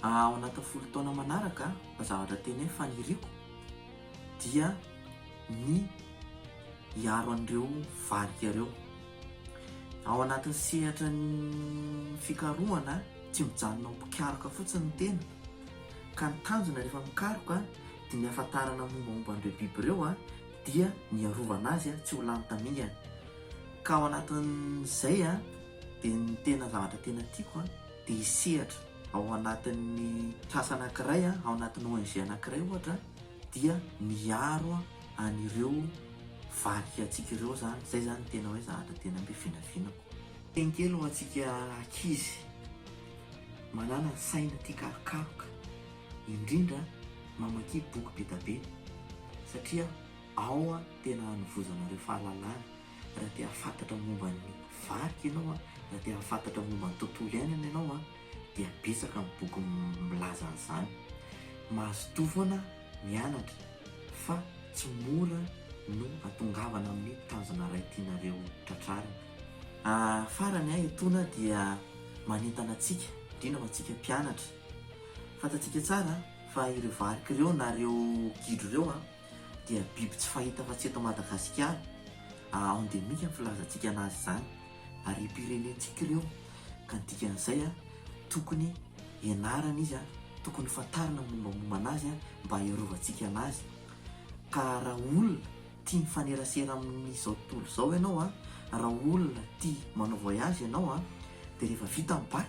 Ao anatin'ny folo taona manaraka, zavatra tena hoe faniriako dia ny hiaro an'ireo varika ireo. Ao anatin'ny sehatra ny fikarohana, tsy mijanona ho mpikaroka fotsiny ny tena, ka ny tanjona rehefa mikaroka Ny hahafantarana mombamomba an'ireo biby ireo dia ny hiarovana azy tsy ho lany tamingana. Ka ao anatin'izay dia ny tena zavatra tena tiako dia hisehatra ao anatin'ny trasa anankiray, ao anatin'ny ONG anankiray ohatra dia miaro an'ireo variantsika ireo izany. Izay izany no tena hoe zavatra tena be vinavinako. Teny kely ho antsika ankizy manana saina tia karokaroka. indrindra mamakia boky be da be satria ao tena hanovozanareo fahalalana, raha te hahafantatra momba ny varika ianao, raha te hahafantatra momba ny tontolo iainana ianao dia betsaka ny boky milaza an'izany. Mazotoa foana mianatra fa tsy mora no atongavana amin'ny tanjona iray tianareo tratrarina. Farany, etona dia manentana antsika, indrindra ho antsika mpianatra, Fantatsika tsara fa ireo varika ireo na ireo gidro ireo dia biby tsy fahita afa-tsy eto Madagasikara. Endemique no filazantsika anazy izany. Harem-pirenentsika ireo ka ny dikan'izay tokony ianarana izy, tokony fantarina ny mombamomba anazy mba hiarovantsika anazy. Ka raha olona tia mifanerasera amin'izao tontolo izao ianao, raha olona tia manao voyage ianao dia rehefa vita ny bac,